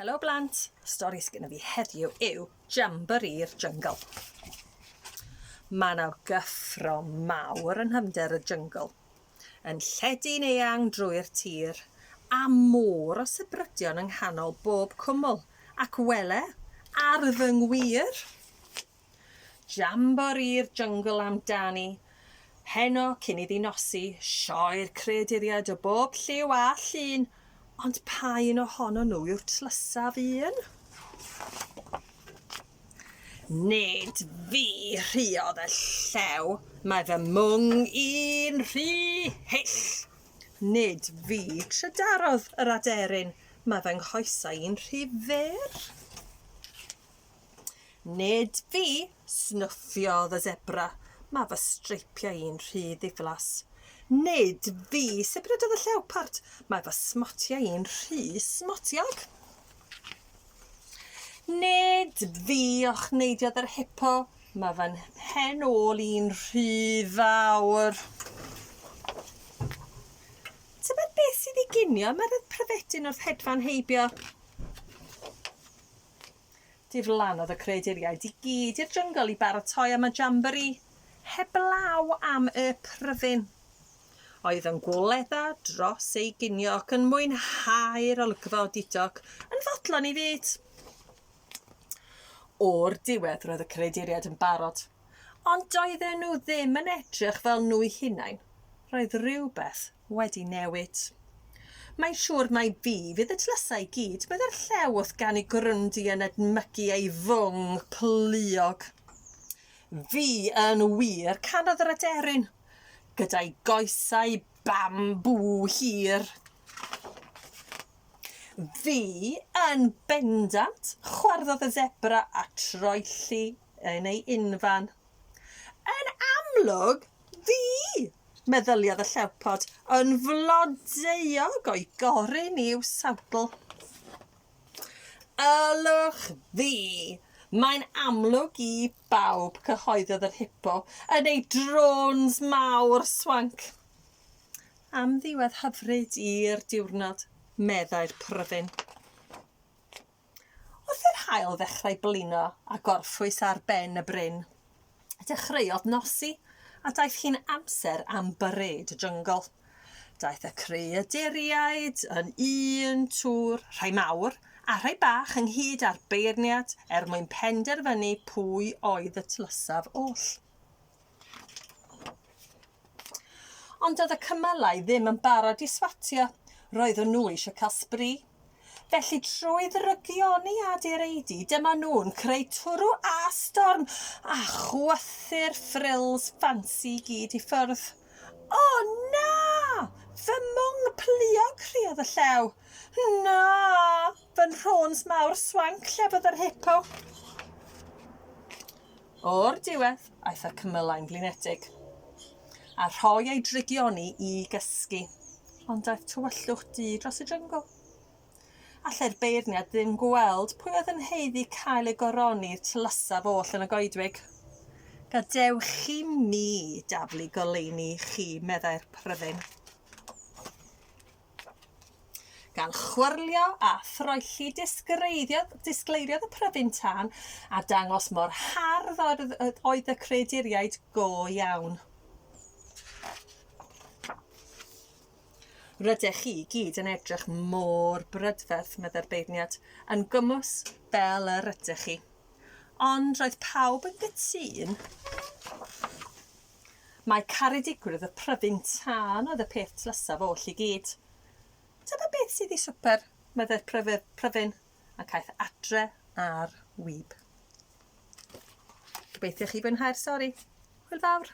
Helo blant, stori sgynno fi heddiw yw Jamboree'r Jungle. Mae yna gyffro mawr yn hymder y jungle, yn lledu'n eang drwy'r tir, a môr o sybrydion yng nghanol bob cwmwl, ac wele, ar fy ngwir, Jamboree'r Jyngl amdani, heno cyn iddi nosi, sioe'r creaduriaid o bob lliw a llun, ond pa un ohonon nhw yw'r tlysaf un? Nid fi, rhuodd y llew, mae fy mwng i'n rhy hyll. Nid fi, trydarodd yr aderyn, mae fy nghoesau i'n rhy fyr. Nid fi! snuffiodd y sebra. Mae fy streipiau i'n rhy ddiflas. Nid fi! sibrydodd y llewpart. Mae fy smotiau i'n rhy smotiog. Nid fi! ochneidiodd yr hipo. Mae fy mhen ôl i'n rhy fawr. Tybed beth sydd i ginio? Mae'r pryfedyn wrth hedfan heibio. Diflannodd y creaduriaid i gyd i'r jyngl i baratoi am y jambori heblaw am y pryfyn. Oedd yn gwledda dros ei ginio ac yn mwynhau'r olygfa o Didog yn fodlon i fyd. O'r diwedd roedd y creaduriaid yn barod, ond doedden nhw ddim yn edrych fel nhw'u hunain, roedd rhywbeth wedi newid. Mae'n siŵr mai fi fydd y tlysau i gyd, meddai'r llew wrth ganu grwndi yn edmygu ei fwng pluog. Fi yn wir, canodd yr aderyn, gyda'i goesau bambŵ hir. Fi yn bendant, chwarddodd y zebra a troelli yn ei unfan. Yn amlwg, Fi! meddyliodd y llewpod, yn flodeuog o'i goryn i'w sawdl. Ylwch fi! Mae'n amlwg i bawb, cyhoeddodd yr hipo, yn ei drôns mawr swanc. Amddiwedd hyfryd i'r diwrnod, meddai'r pryfyn. Wrth i'r haul ddechrau blino a gorffwys ar ben y bryn, dechreuodd nosi a daeth hi'n amser am byrêd jyngl. Daeth y creaduriaid yn un twr, rhai mawr a rhai bach ynghyd â'r beirniad er mwyn penderfynu pwy oedd y tlysaf oll. Ond doedd y cymylau ddim yn barod i swatio, roeddwn nhw eisiau cael sbri. Felly trwy ddrygioni a direidi, dyma nhw'n creu twrw a storm a chwythu'r frills ffansi i gyd i ffwrdd. O na! Fy mwng pluog criad y llew. Na! Fy nhrôns mawr swanc lle bod yr hippo. O'r diwedd, aeth y cymylau'n flinedig, a rhoi ei drygioni i gysgu, ond daeth tywyllwch du dros y jyngl. Allai'r beirniad ddim gweld pwy oedd yn heiddi cael ei goroni i'r tylysaf oll yn y goedwig. Gadewch chi mi daflu goleuni chi, meddai'r pryfyn. Gan chwyrlio a throelli disgleiriodd y pryfyn tân a dangos mor hardd oedd y creaduriaid go iawn. Rydych chi i gyd yn edrych mor brydferth, meddai'r beirniad, yn gymwys fel yr ydych chi. Ond roedd pawb yn gytûn Mae caredigrwydd y pryfyn tân oedd y peth tlysaf oll i gyd. Dyma beth sydd i swper, meddai'r pryfyn, ac aeth adre ar wib. Gobeithio chi fwynhau'r stori. Hwyl fawr!